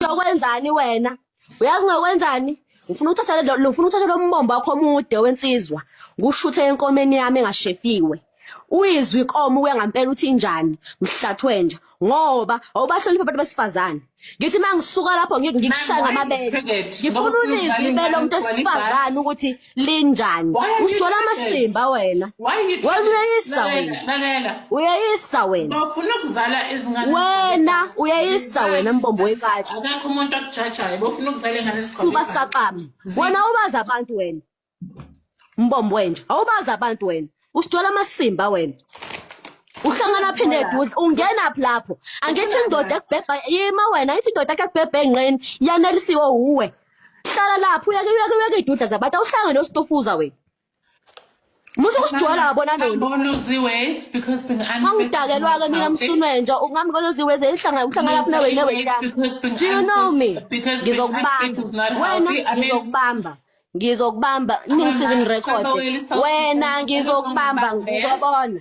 uyokwenzani wena uyazi ngakwenzani ngifuna ukuthatha lo ngifuna ukuthatha lo mbombo wakho omude wensizwa ngushuthe enkomeni yami engashefiwe uyizwe ikomo uya ngampela uthi injani mhlathwe nje ngoba awubahloniphi abantu besifazane ngithi mangisuka lapho ngikushaya ngamabele ngifuna ulizwe ibele umuntu esifazane ukuthi linjani usijola amasimba wena wayeyisa wena uyeyisa wena bafuna ukuzala izingane wena uyeyisa wena mbombo wekathi akakho umuntu akujajayo bafuna ukuzala ingane sikhona sikaqama wena ubaza abantu wena mbombo wenja awubaza abantu wena usijola amasimba wena uhlangana phinde edudla ungenaphi lapho angithi indoda ekubhebha yima wena angithi indoda ekubhebha enqeni yanelisiwe uwe hlala lapho uyake uyake uyake idudla zabantu awuhlangane nostufuza wena musa usigcwala wabona nonangidakelwa-ke mina msunwenja ungami konoziweze ihlanga uhlanga lapho nawe nawe do you know me ngizokubamba wena ngizokubamba ngizokubamba ningisize ngirekhode wena ngizokubamba ngizobona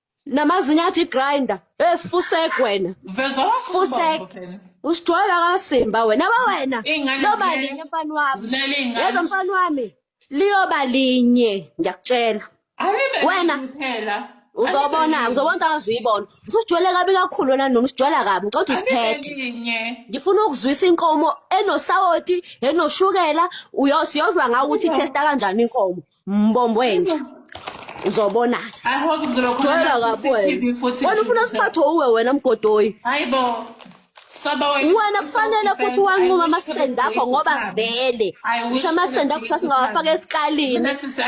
namazinyo athi grinder hey fusek wena veza wakho fusek ubaba phela. usijwayela kasimba wena ba wena Iy'ngane loba zilele- linye mfana wami zilele iy'ngane. yezo mfana wami liyoba linye ngiyakutshela Ayibe Wena. nini phela. uzobona Ayibe uzobona into angazuyibona usijwayele kabi kakhulu wena noma usijwayela kabi ngicela ukuthi nini. Ayibe usiphethe ninye. ngifuna ukuzwisa inkomo enosawoti enoshukela uyo- siyozwa ngawo ukuthi Ayiwa. ithesta kanjani inkomo mbombo wenja uzobona joyela kabi wena wena ufuna usiphathe uwe wena mgodoyi wena kufanele futhi wanquma amasende akho ngoba vele ngisho amasende akho sasingawafaka esikalini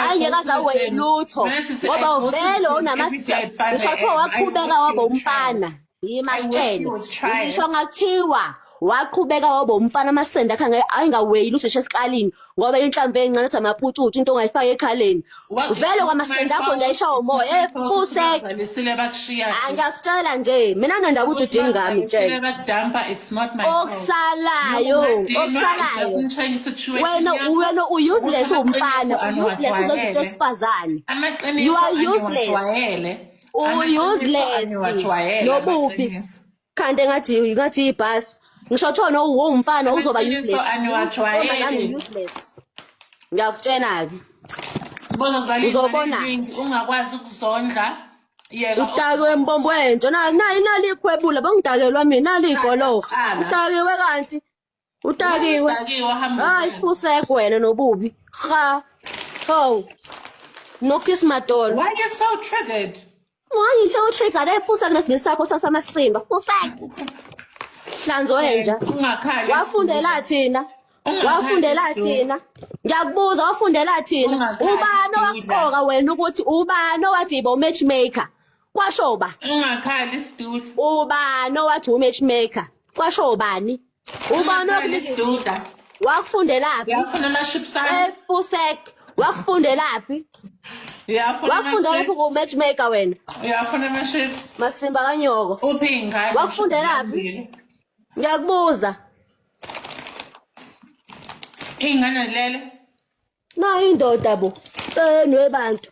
ayingeke aze aweye lutho ngoba vele unamasende ngisho kuthiwa waqhubeka waba umfana Yima I wish kutshene you would try it. ngisho ngathiwa waqhubeka waba umfana amasende akhe ange- ayengaweyili usheshe esikalini ngoba inhlamvu encane ethi amaputshutshu into ongayifaki ekhaleni Well, it's vele not kwamasende my akho fault. ndayishawa It's not umoya your fault ukuthi efuse bazalisile bakushiya sis. angiyakutshela nje mina nandaba ukuthi Ukuthi udini ngami bazalisile tshela bakudampa, it's not my fault. okusalayo Ungadinwa, it okusalayo doesn't change situation wena yakho. wena u-useless Ukuthi amaqiniso uwumfana u-useless uzenza into aniwajwayele. esifazane Amaqiniso You are useless. aniwajwayele. uuseless nobubi kanti engathi ngathi ibhasi ngisho kuthiwa nowumfana uzoba useless ngiyakutshena-ke uzobona ungakwazi ukuzondla udakiwe mbombo wentsho nayo inali ikhwebula bengidakelwa mina nali igoloka udakiwe kanti Utakiwe. Utakiwe hamba. Hayi fusek wena nobubi. Cha. Ho. No kiss madolo. Why you so triggered? Why you so triggered? Efusa ngesinye sakho sasamasimba. Fusek. Hlanzo wenja. Ungakhali. Wafundela thina. wafundela thina ngiyakubuza wafundela thina ubani owaqoka wena ukuthi ubani owathi yibo matchmaker kwasho uba ungakhali isitulo ubani owathi umatchmaker kwasho ubani ubani okunikisiduda wakufundelaphi yafuna ama-ships ami efusek wakufundelaphi wakufundela phi ku-matchmaker wena uyafuna ama-ships masimba kanyoko uphi ingane wakufundelaphi ngiyakubuza iy'ngane lele nayo indoda bo enwe bantu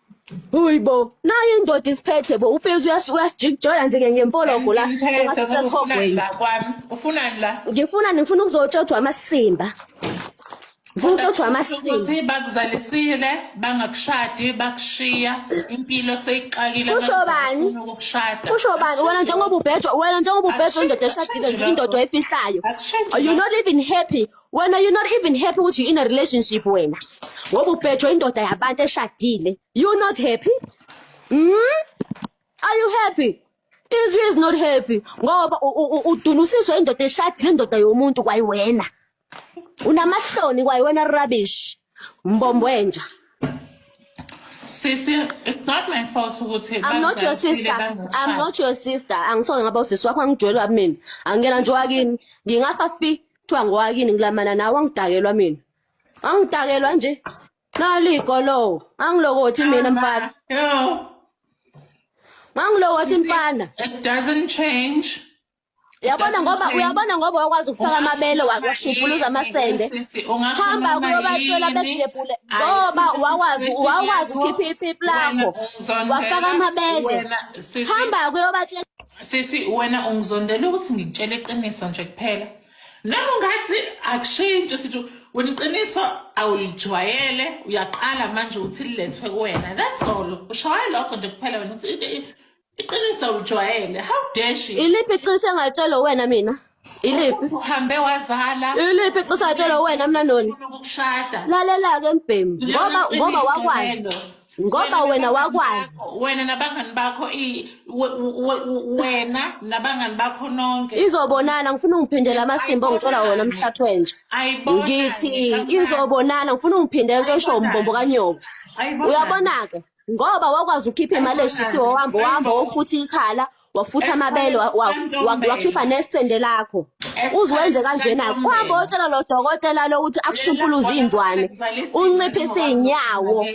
Uyi bo, nayo indoda isiphethe bo, uPhilisi uyasijikijola nje ngemfologo la. Ngiphethe ngoba ufunani la kwami. Ufunani la? Ngifuna ngifuna ukuzotshothwa amasimba. Ngifuna ukutshothwa amasimba. Ukuthi bakuzalisile, bangakushadi, bakushiya, impilo seyixakile. Kusho bani? Kusho bani? Wena njengoba ubhejwa, wena njengoba ubhejwa indoda eshadile nje indoda oyifihlayo. You not even happy. wena you not even happy ukuthi you in a relationship wena ngoba ubhejwe indoda yabantu eshadile you not happy mm? are you happy izwi is not happy ngoba udunusiswe indoda eshadile indoda yomuntu kwayiwena unamahloni kwayiwena rubbish mbombo wenja Sisi, it's not my fault ukuthi I'm not your sister. I'm not your sister. Angisoke ngaba usisi wakho angidwelwa mina. Angena nje wakini. Ngingafa fi kuthiwa ngowakini ngilamana nawe angidakelwa mina angidakelwa nje naligolowo angilokothi mina mfana ngangilokothi mfana it doesn't change yabona ngoba uyabona ngoba wakwazi ukufaka amabele wakushubhuluza amasende hamba kuyobatshela bekudebhule ngoba wakwazi wakwazi ukhipha iphiphi lakho wafaka amabele hamba kuyobatshela sisi wena ungizondela ukuthi ngikutshela iqiniso nje kuphela noma ungathi akushintshi sithi wena iqiniso awulijwayele uyaqala manje ukuthi lilethwe kuwena that's all ushawaye lokho nje kuphela wena ukuthi iqiniso awulijwayele how dare she iliphi iqiniso engatshelwa wena mina Iliphi? Uhambe wazala. Iliphi iqisa atshela wena mina noni? Ukushada. Lalela ke mbhemu ngoba ngoba wakwazi. Ngoba wena wakwazi. Wena nabangani bakho i wena nabangani bakho nonke. Izobonana ngifuna ungiphindele amasimbo ngithola wona umhlathi wenje. Ngithi izobonana ngifuna ungiphindele into esho umbombo kanyoka. Uyabona ke? ngoba wakwazi ukhipha imali eshisiwe wahamba wahamba wofutha ikhala wafutha amabele wa- wa- wa- wakhipha nesende lakho uze wenze kanjena kwabo otshela lo dokotela lokuthi akushumpuluze iy'ndwane unciphise iy'nyawo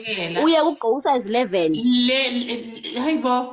uye kugqokisa izi-11 le le- hayi bo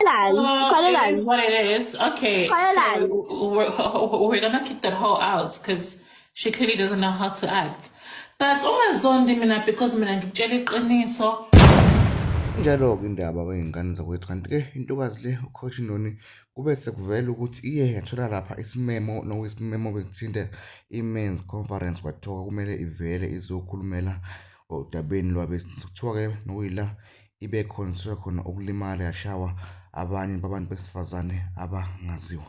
Khalelani, Oh, it khalelani. is what it is. Okay, so Khalelani. we're, we're gonna kick that hoe out because she clearly doesn't know how to act. But ungazondi mina because mina ngikutshela iqiniso. Injalo-ke indaba kwey'ngane zakwethu kanti-ke intokazi le ucoach Noni kube sekuvela ukuthi iye yathola lapha isimemo nokuyisimemo besithinte i-men's conference kwathiwa kumele ivele izokhulumela odabeni lwabesilisa kuthiwa-ke nokuyila ibe khona suke khona okulimala yashawa abanye babantu besifazane abangaziwa